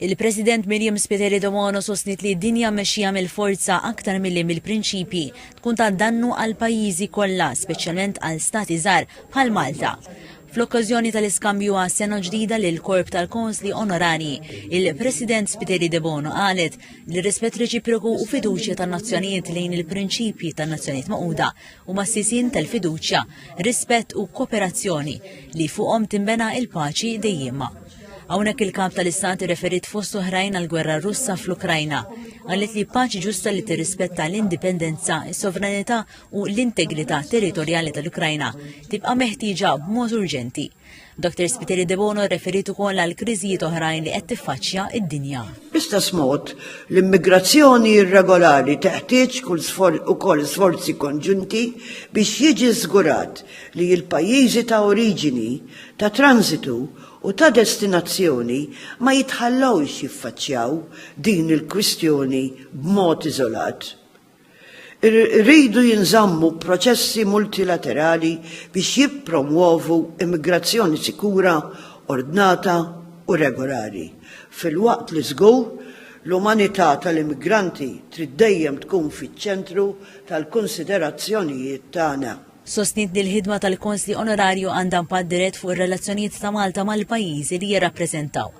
Il-President Miriam Spiteri Domano sostniet li dinja mmexxija mill-forza aktar milli mill-prinċipji tkun ta' dannu għall-pajjiżi kollha, speċjalment għal stati żgħar bħal Malta. Fl-okkażjoni tal-iskambju għas-sena ġdida lill-korp tal-Konsli Onorarji, il-President Spiteri Debono qalet li r-rispett reċiproku u fiduċja tan-nazzjonijiet lejn il-prinċipji tan-Nazzjonijiet Magħquda huma s-sisien tal-fiduċja, rispett u kooperazzjoni li fuqhom tinbena l-paċi dejjiema. Hawnhekk il-Kap tal-Istat irreferiet fost oħrajn għall-gwerra Russa fl-Ukrajna. Qalet li paċi ġusta li tirrispetta l-indipendenza, is-sovranità u l-integrità territorjali tal-Ukrajna tibqa' meħtieġa b'mod urġenti. Dr. Spiteri Debono rreferiet ukoll għal kriżijiet oħrajn li qed tiffaċċja id-dinja. Bl-istess mod, l-immigrazzjoni irregolari teħtieġ ukoll sforzi konġunti biex jiġi żgurat li l-pajjiżi ta' oriġini, ta' transitu u ta' destinazzjoni ma jitħallewx jiffaċċjaw din il-kwistjoni b'mod iżolat. Iridu jinżammu proċessi multilaterali biex jippromwovu immigrazzjoni sikura, ordnata u regolari, filwaqt li żgur l-umanità tal-immigranti trid dejjem tkun fiċ-ċentru tal-kunsiderazzjonijiet tagħna. Sostniet li l-ħidma tal-Konsli Onorarju għandha impatt dirett fuq ir-relazzjonijiet ta' Malta mal-pajjiżi li jirrappreżentaw.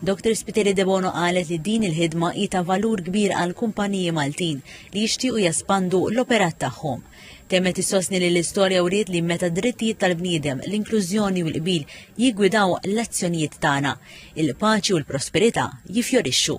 Dr Spiteri Debono qalet li din il-ħidma hi ta' valur kbir għall-kumpaniji Maltin li jixtiequ jespandu l-operat tagħhom. Temmet issostni li l-istorja wriet li meta d-drittijiet tal-bniedem, l-inklużjoni u l-qbil jiggwidaw l-azzjonijiet tagħna, il-paċi u l-prosperità jiffjorixxu.